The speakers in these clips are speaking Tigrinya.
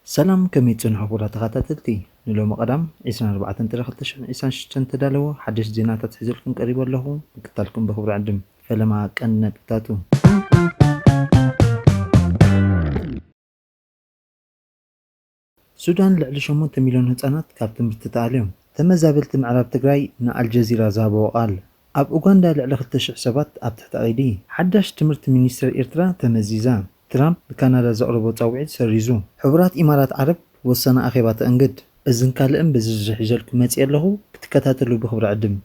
ሰላም ከመይ ትጸንሑ ክቡራት ተኸታተልቲ ንሎሚ ቀዳም ዕስራን ኣርባዕተን ጥሪ ክልተ ሽሕን ዕስራን ሽዱሽተን ዝተዳለወ ሓደሽቲ ዜናታት ሒዘልኩም ቀሪበ ኣለኹ ምክትታልኩም ብኽብሪ ዕድም ፈለማ ቀንዲ ነጥብታቱ ሱዳን ልዕሊ ሸሞንተ ሚልዮን ህጻናት ካብ ትምህርቲ ተኣልዮም። ተመዛበልቲ ምዕራብ ትግራይ ንኣልጀዚራ ዝሃብዎ ቃል። ኣብ ኡጋንዳ ልዕሊ ክልተ ሽሕ ሰባት ኣብ ትሕቲ ቀይዲ። ሓዳሽ ትምህርቲ ሚኒስተር ኤርትራ ተመዚዛ። ትራምፕ ንካናዳ ዘቕረቦ ጻውዒት ሰሪዙ። ሕቡራት ኢማራት ዓረብ ወሳኒ ኣኼባ ተእንግድ። እዝን ካልእን ብዝርዝር ሒዘልኩም መጺኤ ኣለኹ፣ ክትከታተሉ ብኽብሪ ዕድም።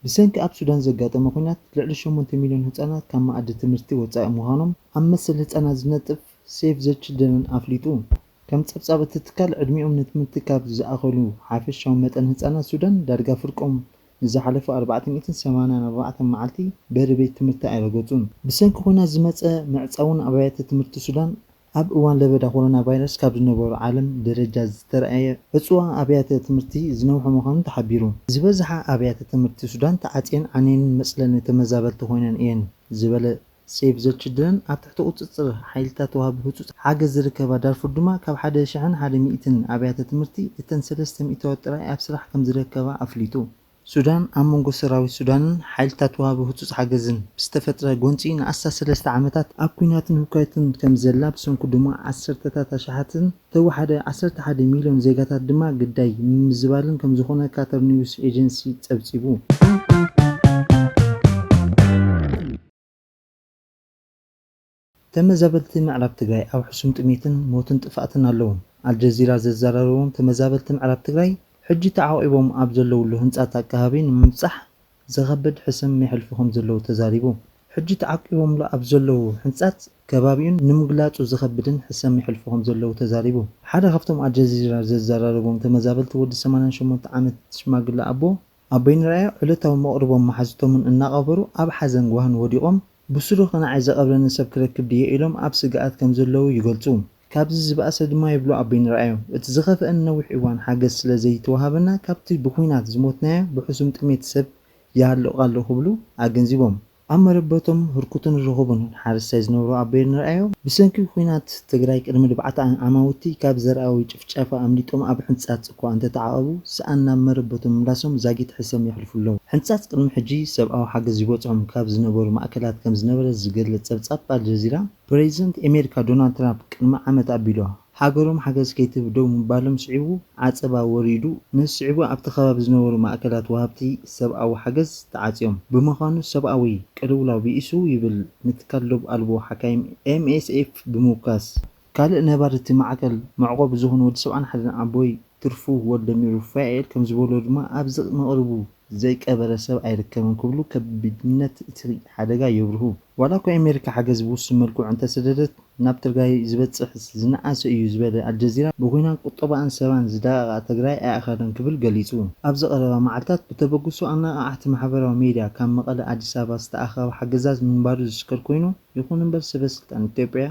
ብሰንኪ ኣብ ሱዳን ዘጋጠመ ኲናት ልዕሊ ሸሞንተ ሚልዮን ህጻናት ካብ መኣዲ ትምህርቲ ወጻኢ ምዃኖም ኣብ መሰል ህጻናት ዝነጥፍ ሴቭ ዘ ችልድረን ኣፍሊጡ። ከም ጸብጻብ እቲ ትካል ዕድሚኦም ንትምህርቲ ካብ ዝኣኸሉ ሓፈሻዊ መጠን ህጻናት ሱዳን ዳርጋ ፍርቆም ንዝሓለፉ ኣርባዕተ ሚእትን ሰማንያን ኣርባዕተን መዓልቲ በሪ ቤት ትምህርቲ ኣይረገጹን። ብሰንኪ ኲናት ዝመጸ ምዕጻውን ኣብያተ ትምህርቲ ሱዳን ኣብ እዋን ለበዳ ኮሮና ቫይረስ ካብ ዝነበሮ ዓለም ደረጃ ዝተርኣየ ዕፅዋ ኣብያተ ትምህርቲ ዝነውሐ ምዃኑ ተሓቢሩ። ዝበዝሓ ኣብያተ ትምህርቲ ሱዳን ተዓፅየን ዓንየንን መፅለሊ ተመዛበልቲ ኮይነን እየን ዝበለ ሴቭ ዘ ችልድረን ኣብ ትሕቲ ቁፅፅር ሓይልታት ወሃቢ ህፁፅ ሓገዝ ዝርከባ ዳርፉር ድማ ካብ ሓደ ሽሕን ሓደ ሚእትን ኣብያተ ትምህርቲ እተን ሰለስተ ሚእታዊት ጥራይ ኣብ ስራሕ ከምዝረከባ ኣፍሊጡ። ሱዳን ኣብ መንጎ ሰራዊት ሱዳንን ሓይልታት ወሃቢ ህጹጽ ሓገዝን ብዝተፈጥረ ጎንጺ ንኣስታት ሰለስተ ዓመታት ኣብ ኲናትን ህውከትን ከም ዘላ ብሰንኩ ድማ ዓሰርተታት ኣሽሓትን ብተወሓደ ዓሰርተ ሓደ ሚልዮን ዜጋታት ድማ ግዳይ ምምዝባልን ከም ዝኾነ ካታር ኒውስ ኤጀንሲ ጸብጺቡ። ተመዛበልቲ ምዕራብ ትግራይ ኣብ ሕሱም ጥሜትን ሞትን ጥፍኣትን ኣለዉ። ኣልጀዚራ ዘዘራረቦም ተመዛበልቲ ምዕራብ ትግራይ ሕጂ ተዓቝቦም ኣብ ዘለዉሉ ህንጻት ኣቀሃቢ ንምብጻሕ ዘኸብድ ሕስም የሕልፉ ከምዘለዉ ተዛሪቡ። ሕጂ ተዓቊቦምሉ ኣብ ዘለዉ ህንጻት ከባቢኡን ንምግላጹ ዘኸብድን ሕሰም የሕልፉ ከምዘለዉ ተዛሪቡ። ሓደ ካብቶም ኣልጀዚራ ዘዘራረቦም ተመዛበልቲ ወዲ ሰማንያን ሸሞንተ ዓመት ሽማግለ ኣቦ ኣቦይ ንርኣዮ ዕለታዊ መቕርቦም መሓዙቶምን እናቐበሩ ኣብ ሓዘን ጓህን ወዲቖም፣ ብስሩ ከነዓይ ዘቐብረኒ ሰብ ክረክብ ድየ ኢሎም ኣብ ስግኣት ከም ዘለዉ ይገልጹ። ካብዚ ዝበኣሰ ድማ ይብሉ ኣቦይ ንርኣዮ፣ እቲ ዝኸፍኣ ንነዊሕ እዋን ሓገዝ ስለ ዘይተዋሃበና ካብቲ ብኲናት ዝሞትናዮ ብሕሱም ጥሜት ሰብ ይሃልቕ ኣሎ ክብሉ ኣገንዚቦም። ኣብ መረበቶም ህርኩትን ርኹብን ሓረስታይ ዝነብሩ ኣቦይ እንርኣዮም፣ ብሰንኪ ኹናት ትግራይ ቅድሚ ልብዓት ኣማውቲ ካብ ዘርኣዊ ጭፍጨፋ ኣምሊጦም ኣብ ሕንጻጽ እኳ እንተተዓቐቡ ስኣን ናብ መረበቶም ምምላሶም ዛጊት ሕሰም የሕልፉ ኣለዉ። ሕንጻጽ ቅድሚ ሕጂ ሰብኣዊ ሓገዝ ይበጽሖም ካብ ዝነበሩ ማእከላት ከም ዝነበረ ዝገልጽ ጸብጻብ ኣልጀዚራ፣ ፕረዚደንት ኣሜሪካ ዶናልድ ትራፕ ቅድሚ ዓመት ኣቢሉ፣ ሃገሮም ሓገዝ ከይትህብ ደው ምባሎም ስዒቡ ዓፀባ ወሪዱ። ነዚ ስዒቡ ኣብቲ ከባቢ ዝነበሩ ማእከላት ወሃብቲ ሰብኣዊ ሓገዝ ተዓፅዮም። ብምዃኑ ሰብኣዊ ቅልውላው ብኢሱ ይብል ንትካል ዶብ ኣልቦ ሓካይም፣ MSF፣ ብምውካስ። ካልእ ነባሪ እቲ ማዕከል መዕቆቢ ዝኾነ ወዲ ሰብዓን ሓደን ኣቦይ ትርፉ ወልደሚሩፋኤል ከምዝበሎ ድማ ኣብዚ መቕርቡ ዘይቀበረ ሰብ ኣይርከብን ክብሉ ከቢድነት እቲ ሓደጋ የብርሁ። ዋላ እኳ ኣሜሪካ ሓገዝ ብውሱን መልክዑ እንተሰደደት ናብ ትርጋይ ዝበፅሕስ ዝነኣሰ እዩ ዝበለ ኣልጀዚራ ብኩናት ቁጠባኣን ሰባን ዝዳቐቓ ትግራይ ኣይኣኸለን ክብል ገሊፁ። ኣብዚ ቀረባ መዓልታት ብተበግሶ ኣነቓቓሕቲ ማሕበራዊ ሚድያ ካብ መቐለ ኣዲስ ኣበባ ዝተኣኸበ ሓገዛት ምንባሩ ዝዝከር ኮይኑ ይኹን እምበር ሰበ ስልጣን ኢትዮጵያ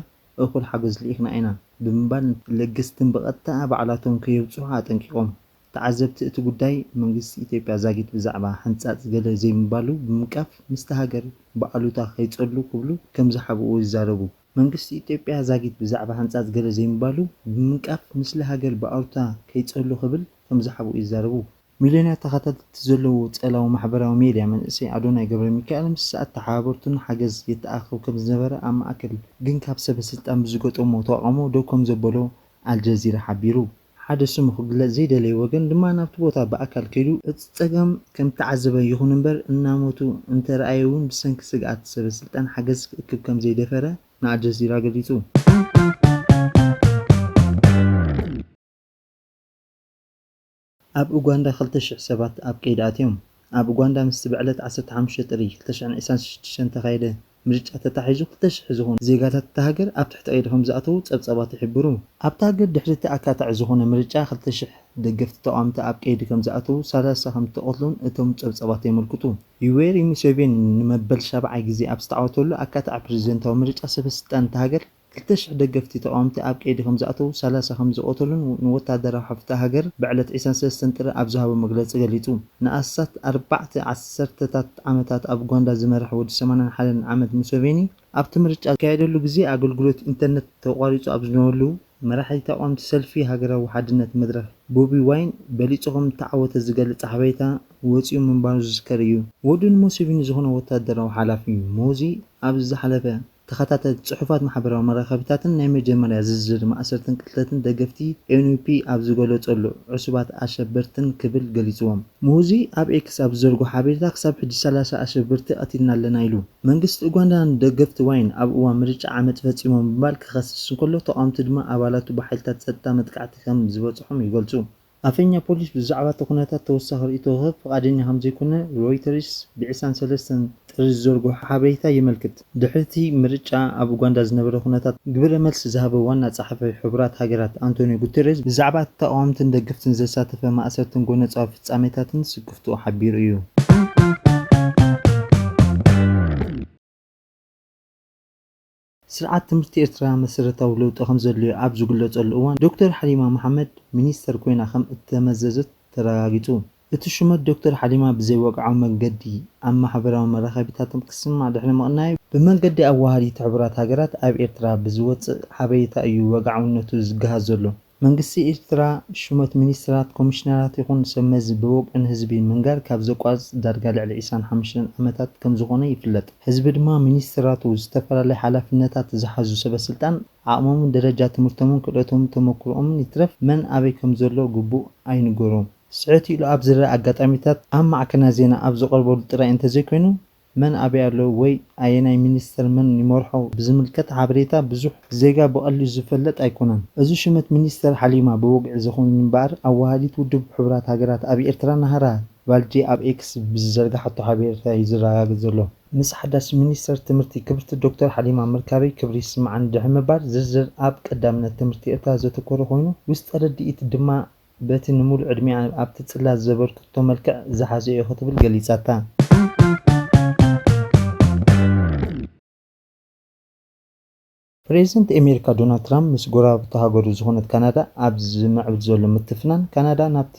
እኹል ሓገዝ ልኢኽና ኢና ብምባል ለገስትን ብቐጥታ ባዕላቶም ከየብፅሑ ኣጠንቂቖም ተዓዘብቲ እቲ ጉዳይ መንግስቲ ኢትዮጵያ ዛጊት ብዛዕባ ሕንጻጽ ገለ ዘይምባሉ ብምንቃፍ ምስቲ ሃገር ብኣሉታ ከይጸሉ ክብሉ ከምዝሓብኡ ይዛረቡ። መንግስቲ ኢትዮጵያ ዛጊት ብዛዕባ ሕንጻጽ ገለ ዘይምባሉ ብምንቃፍ ምስሊ ሃገር ብኣሉታ ከይጸሉ ክብል ከምዝሓብኡ ይዛረቡ። ሚልዮናት ተኸታተልቲ ዘለዎ ጸላዊ ማሕበራዊ ሜድያ መንእሰይ ኣዶናይ ገብረሚካኤል ምስ ኣተሓባበርቱን ሓገዝ የተኣኻኽብ ከምዝነበረ ኣብ ማእከል ግን ካብ ሰበስልጣን ብዝገጠሞ ተቓውሞ ደው ከምዘበሎ ኣልጀዚራ ሓቢሩ። ሓደ ስሙ ክግለጽ ዘይደለየ ወገን ድማ ናብቲ ቦታ ብኣካል ከይዱ እቲ ጸገም ከም እተዓዘበ ይኹን እምበር እናሞቱ እንተረኣየ እውን ብሰንኪ ስግኣት ሰበስልጣን ሓገዝ ክእክብ ከም ዘይደፈረ ንኣልጀዚራ ገሊጹ። ኣብ ኡጋንዳ ክልተ ሽሕ ሰባት ኣብ ቀይዲ ኣትዮም። ኣብ ኡጋንዳ ምስቲ ብዕለት ዓሰርተ ሓሙሽተ ጥሪ ክልተ ሽሕን ዒስራን ሽዱሽተን እተኻየደ ምርጫ ተታሒዙ ክልተ ሽሕ ዝኾኑ ዜጋታት እታ ሃገር ኣብ ትሕቲ ቀይዲ ከምዝኣተዉ ጸብጻባት ይሕብሩ። ኣብታ ሃገር ድሕሪ እቲ ኣካታዒ ዝኾነ ምርጫ ክልተ ሽሕ ደገፍቲ ተቓወምቲ ኣብ ቀይዲ ከምዝኣተዉ፣ ሰላሳ ከምዝተቐትሉን እቶም ጸብጻባት የመልክቱ። ዩዌሪ ሙሴቬኒ ንመበል ሻብዓይ ግዜ ኣብ ዝተዓወተሉ ኣካታዒ ፕረዚደንታዊ ምርጫ ሰበስልጣን እታ ሃገር፣ ክልተ ሽሕ ደገፍቲ ተቓወምቲ ኣብ ቀይዲ ከምዝኣተዉ፣ ሰላሳ ከምዝቐተሉን ንወተሃደራዊ ሓፍታ ሃገር ብዕለት ዕስራን ሰለስተን ጥሪ ኣብ ዝሃቦ መግለጺ ገሊጹ። ንኣስታት ኣርባዕተ ዓሰርተታት ዓመታት ኣብ ኡጋንዳ ዝመረሐ ወዲ ሰማንያን ሓደን ዓመት ሙሰቬኒ፣ ኣብቲ ምርጫ ዝካየደሉ ግዜ ኣገልግሎት ኢንተርነት ተቋሪጹ ኣብ ዝነበሉ፣ መራሒ ተቓወምቲ ሰልፊ ሃገራዊ ሓድነት መድረኽ ቦቢ ዋይን በሊጹ ከምእተዓወተ ዝገልጽ ሓበሬታ ወጺኡ ምንባሩ ዝዝከር እዩ። ወዱ ንሙሰቪኒ ዝኾነ ወተሃደራዊ ሓላፊ ሞዚ ኣብዚ ዝሓለፈ ተኸታተልቲ ጽሑፋት ማሕበራዊ መራኸቢታትን ናይ መጀመርያ ዝርዝር ማእሰርትን ቅትለትን ደገፍቲ NUP ኣብ ዝገለጸሉ፣ ዕሱባት ኣሸበርትን ክብል ገሊጽዎም። ሙሁዚ ኣብ ኤክስ ኣብ ዝዘርግሖ ሓበሬታ ክሳብ ሕጂ ሰላሳ ኣሸበርቲ ቀቲልና ኣለና ኢሉ። መንግስቲ ኡጋንዳ ንደገፍቲ ዋይን ኣብ እዋን ምርጫ ዓመጽ ፈጺሞም ብምባል ክኸስስ እንከሎ፣ ተቓወምቲ ድማ ኣባላቱ ብሓይልታት ጸጥታ መጥቃዕቲ ከም ዝበጽሖም ይገልጹ። ኣፈኛ ፖሊስ ብዛዕባ እቲ ኩነታት ተወሳኺ ርእይቶ ክህብ ፍቓደኛ ከም ዘይኮነ ሮይተርስ ብዕስራን ሰለስተን ጥሪ ዝዘርግሖ ሓበሬታ የመልክት። ድሕሪ እቲ ምርጫ ኣብ ኡጋንዳ ዝነበረ ኩነታት ግብረ መልሲ ዝሃበ ዋና ጸሓፊ ሕቡራት ሃገራት ኣንቶንዮ ጉተሬዝ ብዛዕባ እቲ ተቓወምትን ደገፍትን ዘሳተፈ ማእሰርትን ጎነጻዊ ፍጻሜታትን ስክፍትኡ ሓቢሩ እዩ። ስርዓት ትምህርቲ ኤርትራ መሰረታዊ ለውጢ ከምዘድልዮ ኣብ ዝግለጸሉ እዋን፣ ዶክተር ሓሊማ መሓመድ ሚኒስተር ኮይና ከም እተመዘዘት ተረጋጊጹ። እቲ ሹመት ዶክተር ሓሊማ ብዘይወግዓዊ መንገዲ ኣብ ማሕበራዊ መራኸቢታትም ክስማዕ ድሕሪ ምቕናዩ፣ ብመንገዲ ኣወሃዲት ሕቡራት ሃገራት ኣብ ኤርትራ ብዝወጽእ ሓበሬታ እዩ ወግዓውነቱ ዝገሃስ ዘሎ። መንግስቲ ኤርትራ ሹመት ሚኒስተራት፣ ኮሚሽነራት ይኹን ሰብ መዚ ብወግዒ ንህዝቢ ምንጋር ካብ ዘቋርጽ ዳርጋ ልዕሊ ዒስራን ሓሙሽተን ዓመታት ከምዝኾነ ይፍለጥ። ህዝቢ ድማ ሚኒስተራቱ፣ ዝተፈላለየ ሓላፍነታት ዝሓዙ ሰበስልጣን፣ ዓቕሞምን ደረጃ ትምህርቶምን ክእለቶምን ተመኩሮኦምን ይትረፍ መን ኣበይ ከምዘሎ ግቡእ ኣይንገሮን። ስሕት ኢሉ ኣብ ዝረኣ ኣጋጣሚታት ኣብ ማዕከናት ዜና ኣብ ዝቐርበሉ ጥራይ እንተዘይኮይኑ መን ኣበይ ኣሎ ወይ ኣየናይ ሚኒስተር መን ይመርሖ ብዝምልከት ሓበሬታ ብዙሕ ዜጋ ብቐሊሉ ዝፈለጥ ኣይኮነን። እዚ ሹመት ሚኒስተር ሓሊማ ብወግዒ ዘይኮነን እምበኣር ኣወሃሃዲት ውድብ ሕቡራት ሃገራት ኣብ ኤርትራ ናህራ ቫልጄ ኣብ ኤክስ ብዝዘርግሓቶ ሓበሬታ እዩ ዝረጋገጽ ዘሎ። ምስ ሓዳስ ሚኒስተር ትምህርቲ ክብርቲ ዶክተር ሓሊማ ምርካበይ ክብሪ ይስመዓኒ ድሕሪ ምባል፣ ዝርዝር ኣብ ቀዳምነት ትምህርቲ ኤርትራ ዘተኮረ ኮይኑ፣ ውስጠ ርድኢት ድማ፣ በቲ ንምሉእ ዕድሜኣ ኣብቲ ጽላት ዘበርከተቶ መልክዕ ዝሓዘ'ዩ ክትብል ገሊጻታ። ፕሬዝደንት ኣሜሪካ ዶናልድ ትራምፕ ምስ ጎረባብቲ ሃገሩ ዝኾነት ካናዳ ኣብ ዝምዕብል ዘሎ ምትፍናን ካናዳ ናብቲ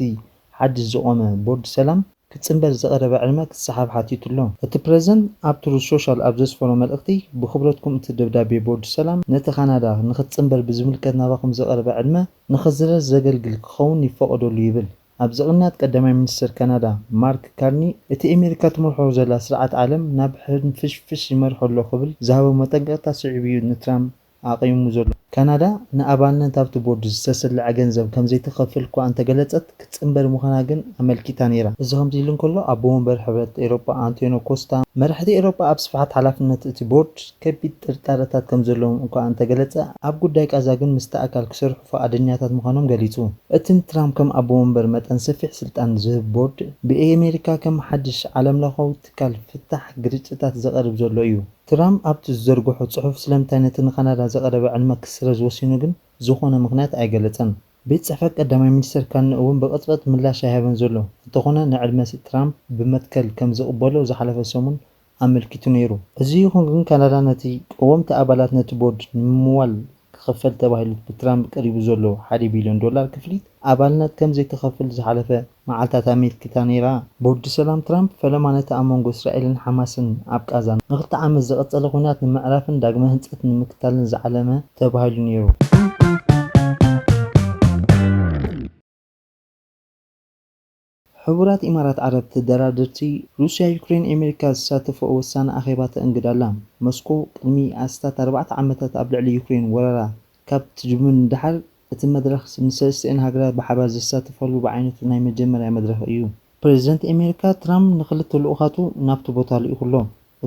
ሓድሽ ዝቖመ ቦርድ ሰላም፣ ክጽንበር ዝቐረበ ዕድመ ክሰሓብ ሓቲቱ ኣሎ። እቲ ፕረዚደንት ኣብ ትሩዝ ሶሻል ኣብ ዘስፈሮ መልእኽቲ፣ ብኽብረትኩም እቲ ደብዳቤ ቦርድ ሰላም ነቲ ካናዳ ንኽትጽንበር ብዝምልከት ናባኹም ዝቐረበ ዕድመ ንኽስረዝ ዘገልግል ክኸውን ይፈቐደሉ ይብል። ኣብዚ ቅንያት ቀዳማይ ሚኒስተር ካናዳ ማርክ ካርኒ እቲ ኤመሪካ ትመርሖ ዘላ ስርዓት ዓለም ናብ ሕንፍሽፍሽ ይመርሖ ኣሎ ክብል ዝሃቦ መጠንቀቕታ ስዒቡ'ዩ ንትራምፕ ኣቚሙ ዘሎ። ካናዳ ንኣባልነት ኣብቲ ቦርድ ዝተሰልዐ ገንዘብ ከምዘይትኸፍል እኳ እንተገለጸት፣ ክትጽንበር ምዃና ግን ኣመልኪታ ነይራ። እዚ ከምዚ ኢሉ እንከሎ፣ ኣቦ መንበር ሕብረት ኤውሮጳ ኣንቶንዮ ኮስታ፣ መራሕቲ ኤውሮጳ ኣብ ስፍሓት ሓላፍነት እቲ ቦርድ ከቢድ ጥርጣረታት ከምዘለዎም እኳ እንተገለጸ፣ ኣብ ጉዳይ ቃዛ ግን ምስቲ ኣካል ክሰርሑ ፍቓደኛታት ምዃኖም ገሊጹ። እቲ ንትራምፕ ከም ኣቦ መንበር መጠን ሰፊሕ ስልጣን ዝህብ ቦርድ፣ ብኣመሪካ ከም ሓድሽ ዓለምለኻዊ ትካል ፍታሕ ግርጭታት ዘቐርብ ዘሎ እዩ። ትራም ኣብቲ ዝዘርግሖ ጽሑፍ ስለምንታይ ነቲ ንካናዳ ዘቐረበ ዕድመ ክስረዝ ወሲኑ ግን ዝኾነ ምኽንያት ኣይገለጸን። ቤት ጽሕፈት ቀዳማይ ሚኒስተር ካንነ እውን ብቕጽበት ምላሽ ኣይሃበን ዘሎ፣ እንተኾነ ንዕድመ ትራም ብመትከል ከም ዝቕበሎ ዝሓለፈ ሰሙን ኣመልኪቱ ነይሩ። እዚ ይኹን ግን ካናዳ ነቲ ቀወምቲ ኣባላት ነቲ ቦርድ ንምምዋል ክኽፈል ተባሂሉ ብትራምፕ ቀሪቡ ዘሎ ሓደ ቢልዮን ዶላር ክፍሊት ኣባልነት ከም ዘይትኸፍል ዝሓለፈ መዓልታት ኣመልኪታ ነይራ። ቦርድ ሰላም ትራምፕ ፈለማ ነቲ ኣብ መንጎ እስራኤልን ሓማስን ኣብ ቓዛ ንኽልተ ዓመት ዝቐጸለ ኲናት ንምዕራፍን ዳግመ ህንጸት ንምክታልን ዝዓለመ ተባሂሉ ነይሩ። ሕቡራት ኢማራት ዓረብ ተደራደርቲ ሩስያ ዩክሬን ኤመሪካ ዝሳተፍኦ ወሳኒ ኣኼባ ተእንግድ ኣላ። መስኮ ቅድሚ ኣስታት ኣርባዕተ ዓመታት ኣብ ልዕሊ ዩክሬን ወረራ ካብ ትጅምር ንደሓር እቲ መድረኽ ንሰለስቲኣን ሃገራት ብሓባር ዘሳትፋሉ ብዓይነቱ ናይ መጀመርያ መድረኽ እዩ። ፕረዚደንት ኤመሪካ ትራምፕ ንክልተ ልኡኻቱ ናብቲ ቦታ ልኢኹ'ሎ።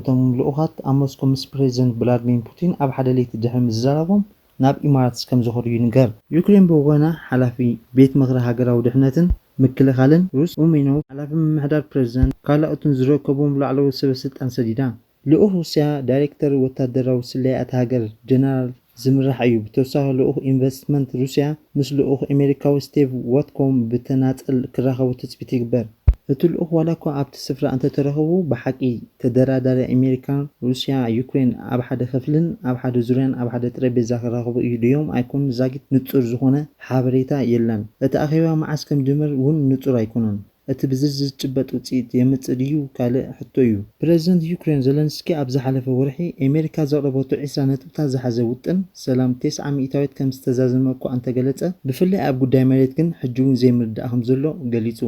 እቶም ልኡኻት ኣብ መስኮ ምስ ፕረዚደንት ብላድሚን ፑቲን ኣብ ሓደ ለይቲ ድሕሪ ምዝራራቦም ናብ ኢማራትስ ከምዝኸዱ ይንገር። ዩክሬን ብወገና ሓላፊ ቤት ምኽሪ ሃገራዊ ድሕነትን ምክልኻልን ሩስ ኡሜኖቭ፣ ሓላፊ ምምሕዳር ፕረዚደንት ካልኣኡትን ዝርከቡዎም ላዕለዎት ሰበስልጣን ሰዲዳ። ልኡኽ ሩስያ ዳይሬክተር ወታደራዊ ስለያ እታ ሃገር ጀነራል ዝምራሕ እዩ። ብተወሳኺ ልኡኽ ኢንቨስትመንት ሩስያ ምስ ልኡኽ ኣሜሪካዊ ስቴቭ ዎትኮም ብተናጸል ክራኸቡ ትጽቢት ይግበር። እቲ ልኡኽ ዋላኳ ኣብቲ ስፍራ እንተተረኸቡ፣ ብሓቂ ተደራዳሪ ኣሜሪካ፣ ሩስያ፣ ዩክሬን ኣብ ሓደ ክፍልን ኣብ ሓደ ዙርያን ኣብ ሓደ ጠረጴዛ ክራኸቡ እዩ ድዮም ኣይኮኑን ዛጊት ንጹር ዝኾነ ሓበሬታ የለን። እቲ ኣኼባ መዓስ ከምዝጅምር ውን ንጹር ኣይኮነን። እቲ ብዝርዝር ዝጭበጥ ውጽኢት የምጽእ ድዩ ካልእ ሕቶ'ዩ። ፕረዚደንት ዩክሬን ዘለንስኪ ኣብ ዝሓለፈ ወርሒ ኤመሪካ ዘቕረበቶ ዕስራ ነጥብታት ዝሓዘ ውጥን ሰላም ቴስዓ ሚእታዊት ከም ዝተዛዘመ እኳ እንተገለጸ፣ ብፍላይ ኣብ ጉዳይ መሬት ግን ሕጂ'ውን ዘይምርድዳእ ከም ዘሎ ገሊጹ።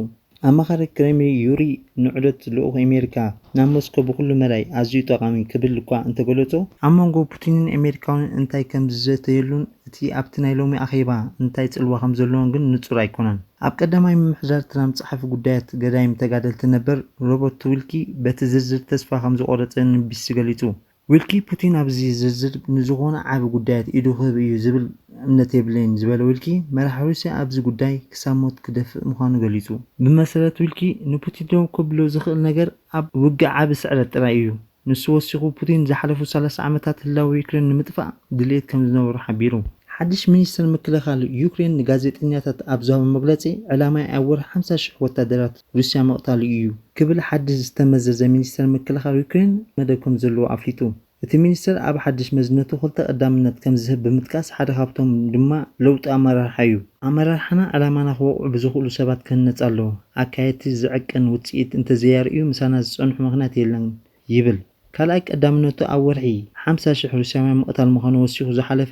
ኣማኻሪ ክሬምሊን ዩሪ ንዑደት ልኡኽ ኤመሪካ ናብ ሞስኮ ብኹሉ መዳይ ኣዝዩ ጠቓሚ ክብል እኳ እንተገለጾ፣ ኣብ መንጎ ፑቲንን ኤመሪካውንን እንታይ ከም ዝዘተየሉን እቲ ኣብቲ ናይ ሎሚ ኣኼባ እንታይ ጽልዋ ከም ዘለዎን ግን ንጹር ኣይኮነን። ኣብ ቀዳማይ ምምሕዳር ትራምፕ ጸሓፊ ጉዳያት ገዳይም ተጋደልቲ ነበር ሮበርት ዊልኪ በቲ ዝርዝር ተስፋ ከም ዝቖረጸ ንቢቢሲ ገሊጹ። ዊልኪ፣ ፑቲን ኣብዚ ዝርዝር ንዝኾነ ዓቢ ጉዳያት ኢዱ ክህብ እዩ ዝብል እምነት የብለይን ዝበለ ዊልኪ፣ መራሒ ሩስያ ኣብዚ ጉዳይ ክሳብ ሞት ክደፍእ ምዃኑ ገሊጹ። ብመሰረት ዊልኪ፣ ንፑቲን ደው ከብሎ ዝኽእል ነገር ኣብ ውግእ ዓቢ ስዕረት ጥራይ እዩ። ንሱ ወሲኹ፣ ፑቲን ዝሓለፉ ሰላሳ ዓመታት ህላወ ዩክሬን ንምጥፋእ ድልየት ከም ዝነበሮ ሓቢሩ። ሓድሽ ሚኒስተር ምክልኻል ዩክሬን ንጋዜጠኛታት ኣብ ዝሃቦ መግለጺ፣ ዕላማይ ኣብ ወርሒ ሓምሳ ሽሕ ወታደራት ሩስያ ምቕታሉ እዩ ክብል ሓድሽ ዝተመዘዘ ሚኒስተር ምክልኻል ዩክሬን መደብ ከም ዘለዎ ኣፍሊጡ። እቲ ሚኒስተር ኣብ ሓድሽ መዝነቱ ክልተ ቀዳምነት ከም ዝህብ ብምጥቃስ ሓደ ካብቶም ድማ ለውጢ ኣመራርሓ እዩ። ኣመራርሓና ዕላማና ክወቕዑ ብዝኽእሉ ሰባት ክህነጽ ኣለዎ። ኣካየድቲ ዝዕቀን ውጽኢት እንተዘየርእዩ ምሳና ዝጸንሑ ምኽንያት የለን ይብል። ካልኣይ ቀዳምነቱ ኣብ ወርሒ ሓምሳ ሽሕ ሩስያውያን ምቕታል ምዃኑ ወሲኹ ዝሓለፈ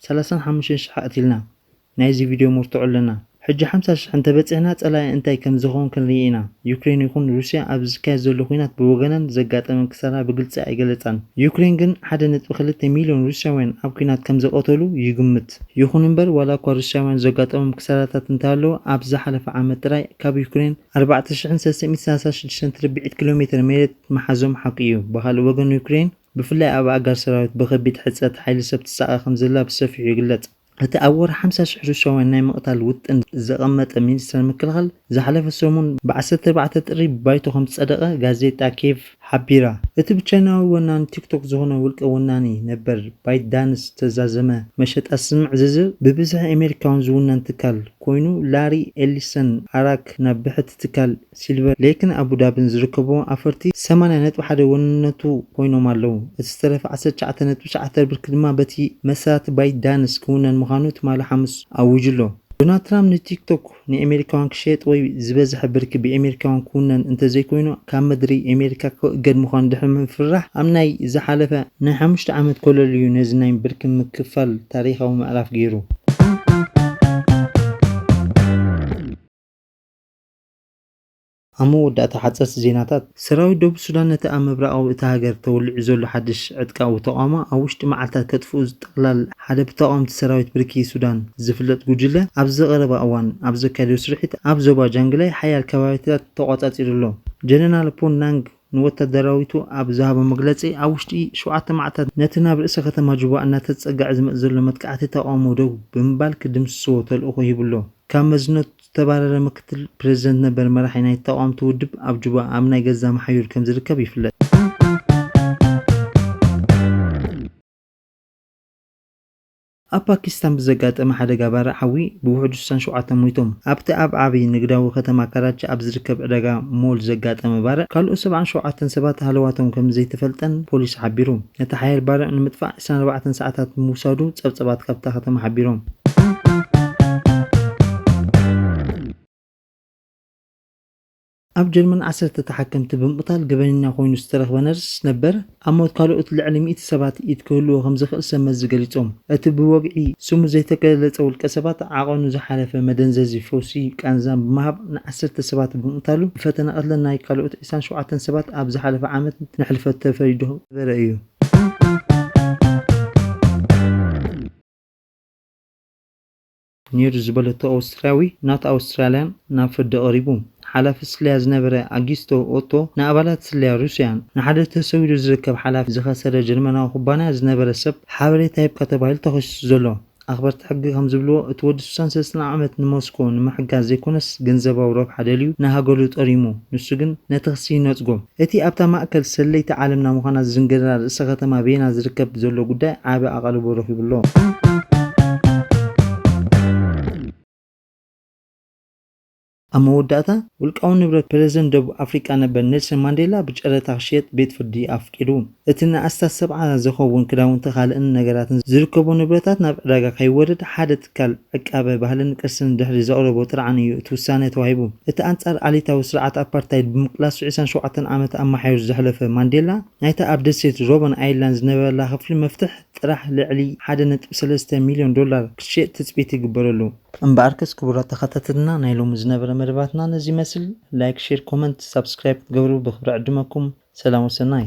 ሰላሳን ሓሙሽተን ሽሕ ኣቕቲልና ናይዚ ቪድዮ መርትዖ ኣለና። ሕጂ ሓምሳ ሽሕ እንተበጺሕና ጸላኢ እንታይ ከምዝኸውን ክንርኢ ኢና። ዩክሬን ይኹን ሩስያ ኣብዚ ዝካየድ ዘሎ ኲናት ብወገነን ዘጋጠመን ክሳራ ብግልጺ ኣይገለጻን። ዩክሬን ግን ሓደ ነጥቢ ክልተ ሚልዮን ሩስያውያን ኣብ ኲናት ከምዘቐተሉ ይግምት። ኣስዒቡ'ቲ። ይኹን እምበር ዋላ እኳ ሩስያውያን ዘጋጠሞም ክሳራታት እንተሃለወ ኣብዚ ዝሓለፈ ዓመት ጥራይ ካብ ዩክሬን ኣርባዕተ ሽሕን ሰለስተ ሚእትን ሰላሳን ሽዱሽተን ትርብዒት ኪሎ ሜተር መሬት ምሓዞም ሓቁ እዩ። ብኻልእ ወገን ዩክሬን ብፍላይ ኣብ ኣእጋር ሰራዊት ብኸቢድ ሕጽረት ሓይሊ ሰብ ትሳቐ ከምዘላ ብሰፊሑ ይግለጽ። እቲ ኣብ ወርሒ ሓምሳ ሽሕ ሩስያውያን ናይ ምቕታል ውጥን ዘቐመጠ ሚኒስተር ምክልኻል ዝሓለፈ ሰሙን ብ ዓሰርተ ኣርባዕተ ጥሪ ብባይቶ ከምዝጸደቐ ጋዜጣ ኬቭ ሓቢራ። እቲ ብቻይናዊ ወናኒ ቲክቶክ ዝኾነ ውልቀ ወናኒ ነበር ባይትዳንስ ዝተዛዘመ መሸጣ ስምዕ ዝዝር ብብዝሒ ኣሜሪካውን ዝውነን ትካል ኮይኑ ላሪ ኤሊሰን ኣራክ ናብ ብሕቲ ትካል ሲልቨር ሌክን ኣቡዳብን ዝርከቦ ኣፈርቲ ሰማንያ ነጥቢ ሓደ ወንነቱ ኮይኖም ኣለው። እቲ ዝተረፈ ዓሰርተ ትሽዓተ ነጥቢ ትሽዓተ ብርኪ ድማ በቲ መሰራቲ ባይትዳንስ ክውነን ምዃኑ ትማሊ ሓሙስ ኣዊጁ'ሎ። ዶናልድ ትራምፕ ንቲክቶክ ንኤሜሪካውያን ክሸየጥ ወይ ዝበዝሐ ብርኪ ብኤሜሪካውያን ክውነን እንተዘይኮይኑ ካብ ምድሪ ኤሜሪካ ክእገድ ምዃኑ ድሕሪ ምፍርራሕ ኣብ ናይ ዝሓለፈ ናይ ሓሙሽተ ዓመት ኮለል እዩ ነዚ ናይ ብርኪ ምክፋል ታሪኻዊ ምዕራፍ ገይሩ። ኣብ መወዳእታ ሓጸርቲ ዜናታት። ሰራዊት ደቡብ ሱዳን ነቲ ኣብ ምብራቓዊ እታ ሃገር ተወሊዑ ዘሎ ሓድሽ ዕጥቃዊ ተቓውሞ ኣብ ውሽጢ መዓልታት ከጥፍኡ ዝጠቕላል ሓደ ብተቓወምቲ ሰራዊት ብርኪ ሱዳን ዝፍለጥ ጉጅለ ኣብዚ ቀረባ እዋን ኣብ ዘካየዶ ስርሒት ኣብ ዞባ ጃንግላይ ሓያል ከባቢታት ተቖጻጺሩ ኣሎ። ጀነራል ፖን ናንግ ንወታደራዊቱ ኣብ ዝሃቦ መግለጺ ኣብ ውሽጢ ሸውዓተ መዓልታት ነቲ ናብ ርእሰ ከተማ ጁባ እናተጸግዐ ዝመጽእ ዘሎ መጥቃዕቲ ተቓውሞ ደው ብምባል ክድምስስዎ ተልእኾ ሂቡ'ሎ። ካብ መዝነት። ዝተባረረ ምክትል ፕረዚደንት ነበር መራሒ ናይቲ ተቓወምቲ ውድብ ኣብ ጁባ ኣብ ናይ ገዛ መሓዩር ከም ዝርከብ ይፍለጥ። ኣብ ፓኪስታን ብዘጋጠመ ሓደጋ ባርዕ ሓዊ ብውሕዱ ስሳን ሸውዓተን ሞይቶም። ኣብቲ ኣብ ዓቢ ንግዳዊ ከተማ ካራቺ ኣብ ዝርከብ ዕዳጋ ሞል ዘጋጠመ ባርዕ ካልኦት ሰብዓን ሸውዓተን ሰባት ሃለዋቶም ከም ዘይተፈልጠን ፖሊስ ሓቢሩ። ነቲ ሓያል ባርዕ ንምጥፋእ፣ ዕስራን ኣርባዕተን ሰዓታት ብምውሳዱ ጸብጸባት ካብታ ከተማ ሓቢሮም። ኣብ ጀርመን ዓሰርተ ተሓከምቲ ብምቕታል ገበነኛ ኮይኑ ዝተረኽበ ነርስ ነበር፣ ኣብ ሞት ካልኦት ልዕሊ ሚእቲ ሰባት ኢድ ክህልዎ ከምዝኽእል ሰብመዚ ገሊጾም። እቲ ብወግዒ ስሙ ዘይተገለጸ ውልቀሰባት ዓቐኑ ዝሓለፈ መደንዘዚ ፈውሲ ቃንዛን ብምሃብ ንዓሰርተ ሰባት ብምቕታሉ ብፈተነ ቅትለት ናይ ካልኦት ዕስራን ሸውዓተን ሰባት ኣብ ዝሓለፈ ዓመት ንሕልፈት ተፈሪዱ ዝነበረ እዩ። ኔሩ ዝበለቶ ኣውስትርያዊ ናት ኣውስትራልያን ናብ ፍርዲ ቀሪቡ። ሓላፊ ስለያ ዝነበረ ኣጊስቶ ኦቶ ንኣባላት ስለያ ሩስያን ንሓደ ተሰዊሩ ዝርከብ ሓላፊ ዝኸሰረ ጀርመናዊ ኩባንያ ዝነበረ ሰብ ሓበሬታ ሂብካ ተባሂሉ ተኸሲሱ ዘሎ። ኣኽበርቲ ሕጊ ከምዝብልዎ፣ እቲ ወዲ ስሳን ሰለስተን ዓመት ንሞስኮ ንምሕጋዝ ዘይኮነስ ገንዘባዊ ረብሓ ደልዩ ንሃገሉ ጠሪሙ፣ ንሱ ግን ነቲ ክሲ ይነጽጎ። እቲ ኣብታ ማእከል ሰለይቲ ዓለምና ምዃና ዝዝንገደላ ርእሰ ከተማ ቬና ዝርከብ ዘሎ ጉዳይ ዓቢ ኣቓልቦ ረኺቡ ኣሎ። ኣብ መወዳእታ፣ ውልቃዊ ንብረት ፕረዚደንት ደቡብ ኣፍሪቃ ነበር ኔልሰን ማንዴላ ብጨረታ ክሽየጥ ቤት ፍርዲ ኣፍቂዱ። እቲ ንኣስታት ሰብዓ ዝኸውን ክዳውንቲ ካልእን ነገራትን ዝርከቦ ንብረታት ናብ ዕዳጋ ከይወርድ ሓደ ትካል ዕቃበ ባህልን ቅርስን ድሕሪ ዘቕረቦ ጥርዓን እዩ እቲ ውሳነ ተዋሂቡ። እቲ ኣንጻር ዓሌታዊ ስርዓት ኣፓርታይድ ብምቅላሱ ዕስራን ሸውዓተን ዓመት ኣማሓዩሩ ዘሕለፈ ማንዴላ ናይታ ኣብ ደሴት ሮበን ኣይላንድ ዝነበረላ ክፍሊ መፍትሕ ጥራሕ ልዕሊ ሓደ ነጥቢ ሰለስተ ሚልዮን ዶላር ክትሽየጥ ትጽቢት ይግበረሉ። እምበኣርከስ ክቡራት ተኸታተልና ናይ ሎሚ ዝነበረ መደባትና ነዚ ይመስል ላይክ ሼር ኮመንት ሳብስክራይብ ክትገብሩ ብኽብሪ ዕድመኩም ሰላም ወሰናይ።